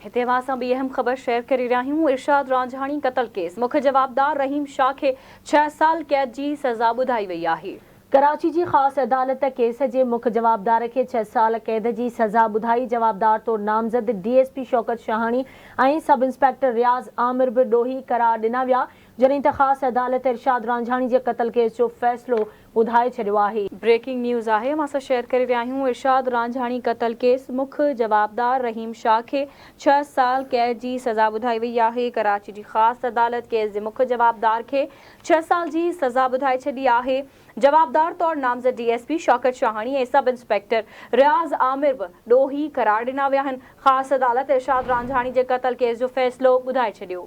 هتي اوهان سان ٻي اهم خبر شيئر ڪري رهيا آهيون ارشاد رانجهاڻي قتل ڪيس مک جوابدار رحيم شاهه کي ڇهه سال قيد جي سزا ٻڌائي وئي آهي. ڪراچي جي خاص عدالت ڪيس جي مک جوابدار کي ڇهه سال قيد جي سزا ٻڌائي جوابدار طور نامزد D S P Shaukat Shahani ۽ sub inspector Riaz Aamir به ڏوهي قرار ڏنا ويا جڏهن ته خاص عدالت ارشاد رانجهاڻي جي قتل ڪيس جو فيصلو ٻڌائي ڇڏيو آهي. بريڪنگ نيوز آهي اوهان سان شيئر ڪري رهيا آهيون ارشاد رانجهاڻي قتل ڪيس مک جوابدار رحيم شاهه کي ڇهه سال قيد جي سزا ٻڌائي وئي آهي ڪراچي جي خاص عدالت ڪيس جي مک جوابدار کي ڇهه سال جي سزا ٻڌائي ڇڏي آهي جوابدار طور نامزد D S P Shaukat Shahani ۽ sub inspector Riaz Aamir به ڏوهي قرار ڏنا ويا آهن خاص عدالت ارشاد رانجهاڻي جي قتل ڪيس جو فيصلو ٻڌائي ڇڏيو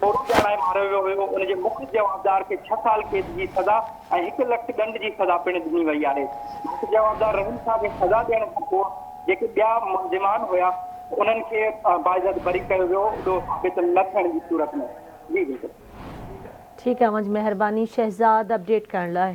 ڦورو ڄاڻائي ماريو ويو هيو، ان جي مک جوابدار کي ڇهه سال قيد جي سزا ۽ هڪ لک ڏنڊ جي سزا پڻ ڏني وئي آهي. مک جوابدار رحيم شاهه کي سزا ڏيڻ کان پوء جيڪي ٻيا ملزمان هيا انهن کي باعزت بري ڪيو ويو ڏوهه ثابت نه ٿيڻ جي صورت ۾ جي بلڪل. ٺيڪ آ منجھ مهرباني شهزاد اپڊيٽ ڪرڻ لاء.